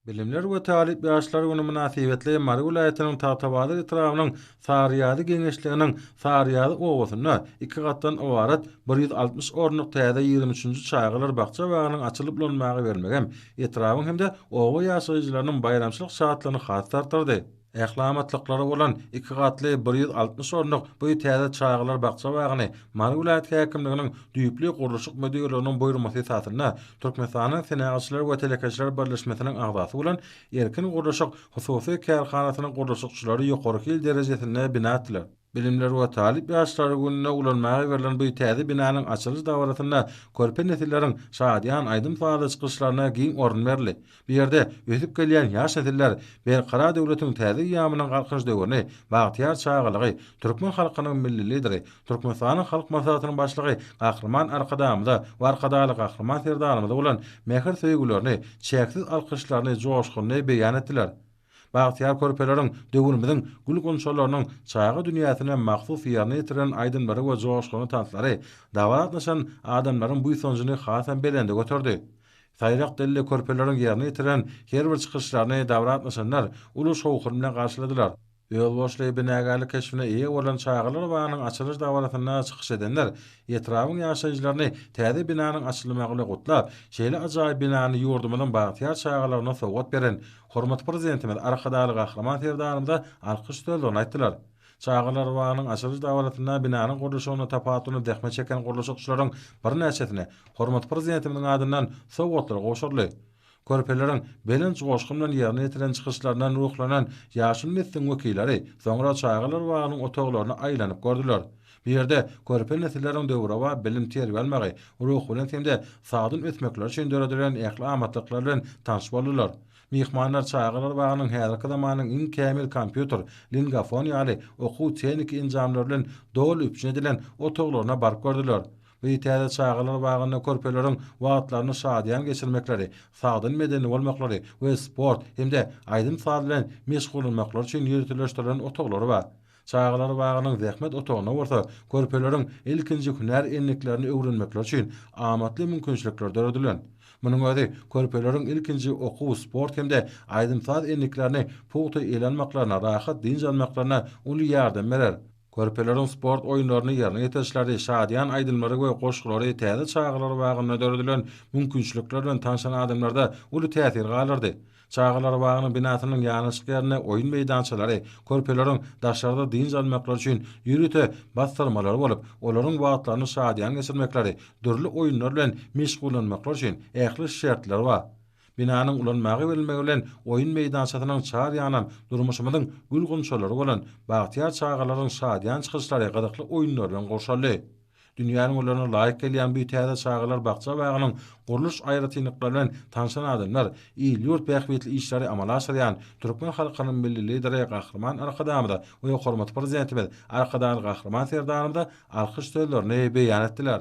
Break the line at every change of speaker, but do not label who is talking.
Bilimler we talyp ýaşlar güni mynasybetli Mary welaýatynyň Tagtabazar etrabynyň Saryýazy geňeşliginiň Saryýazy obasynda iki gatdan ybarat bir ýüz altmyş orunlyk täze ýigrimi üçünji çagalar bakja-bagynyň açylyp ulanmaga bermegem etrabyň hem-de oba ýaşaýjylarynyň baýramçylyk şatlygyny has-da artdyrdy. Ähli amatlyklary bolan iki gatly bir ýüz altmyş orunlyk bu täze çagalar bakja-bagyny Mary welaýat häkimliginiň düýpli gurluşyk müdirliginiň buýurmasy esasynda Türkmenistanyň Senagatçylar we telekeçiler birleşmesiniň agzasy bolan Erkin gurluşyk hususy kärhanasynyň gurluşykçylary ýokary hil derejesinde bina etdiler. Bilimler we talyp ýaşlar gününe ulanmaga berlen bu täze binanyň açylyş dabarasynda körpe nesilleriň şadyýan aýdym-sazly çykyşlaryna giň orun berildi. Bu ýerde ösüp gelýän ýaş nesiller Berkarar döwletiň täze eýýamynyň Galkynyş döwrüni, bagtyýar çagalygy, türkmen halkynyň Milli Lideri, Türkmenistanyň Halk Maslahatynyň Başlygy Gahryman Arkadagymyza we Arkadagly Gahryman Serdarymyza bolan mähir-söýgülerini, çäksiz alkyşlaryny joşgunly beýan etdiler. Bagtyýar körpeleriň döwrümiziň gül-gunçalarynyň çaga dünýäsine mahsus ýerine ýetiren aýdymlary we joşgunly tanslary dabara gatnaşan adamlaryň buýsanjyny hasam belende göterdi. Saýrak dilli körpeleriň ýerine ýetiren her bir çykyşlaryny dabara gatnaşanlar uly şowhun bilen garşyladylar. Özboluşly binagärlik keşbine eýe bolan çagalar bagynyň açylyş dabarasynda çykyş edenler etrabyň ýaşaýjylaryny täze binanyň açylmagy bilen gutlap, şeýle ajaýyp binany ýurdumyzyň bagtyýar çagalaryna sowgat beren Hormatly Prezidentimiz Arkadagly Gahryman Serdarymyza alkyş sözlerini aýtdylar. Çagalar bagynyň açylyş dabarasynda binanyň gurluşygynda tapawutlanýan zähmet çeken gurluşykçylaryň birnäçesine hormatly Prezidentimiziň adyndan sowgatlar gowşuryldy. Körpeleriň belent joşgun bilen ýerine ýetiren çykyşlaryndan ruhlanan ýaşuly nesliň wekilleri soňra çagalar bagynyň otaglaryny aýlanyp gördüler. Bu ýerde körpe nesilleriň döwrebap bilim-terbiýe almagy, ruhubelent hem-de sagdyn ösmekleri üçin döredilen ähli amatlyklar bilen tanyş boldular. Myhmanlar çagalar bagynyň häzirki zamanyň iň kämil kompýuter, lingafon ýaly okuw-tehniki enjamlary bilen doly üpjün edilen otaglaryna baryp gördüler. Bu täze çagalar bagynda körpeleriň wagtlaryny şadyýan geçirmekleri, sagdyn medeni bolmaklary we sport hem-de aýdym-saz bilen meşgullanmaklary üçin ýöriteleşdirilen otaglar bar. Çagalar bagynyň zähmet otagynda bolsa körpeleriň ilkinji hünär endiklerini öwrenmekleri üçin amatly mümkinçilikler döredilen. Munuň özi körpeleriň ilkinji okuw, sport hem-de aýdym-saz endiklerini pugta ele almaklaryna, rahat dynç almaklaryna uly ýardam berer. Körpeleriň sport oýunlaryny ýerine ýetirişleri, şadyýan aýdymlary we goşgulary täze çagalar bagynda döredilen mümkinçilikler bilen tanşan adamlarda uly täsir galdyrdy. Çagalar bagynyň binasynyň ýanaşyk ýerinde oýun meýdançalary, körpeleriň daşarda dynç almaklary üçin ýörite bassyrmalary bolup, olaryň wagtlaryny şadyýan geçirmekleri, dürli oýunlar bilen meşgullanmaklary üçin ähli şertler bar. Binanyň ulanmaga berilmegi bilen oýun meýdançasynyň çar ýanam durmuşymyzyň gül-gunçalary bolan bagtyýar çagalaryň şadyýan çykyşlary gyzykly oýunlar bilen gurşaldy. Dünýäniň ularyna laýyk gelýän bu täze çagalar bakja-bagynyň gurluş aýratynlyklary bilen tanşan adamlar, il-ýurt bähbitli işleri amala aşyrýan türkmen halkynyň Milli Lideri Gahryman Arkadagymyza we hormatly Prezidentimiz Arkadagly Gahryman Serdarymyza alkyş sözlerini beýan etdiler.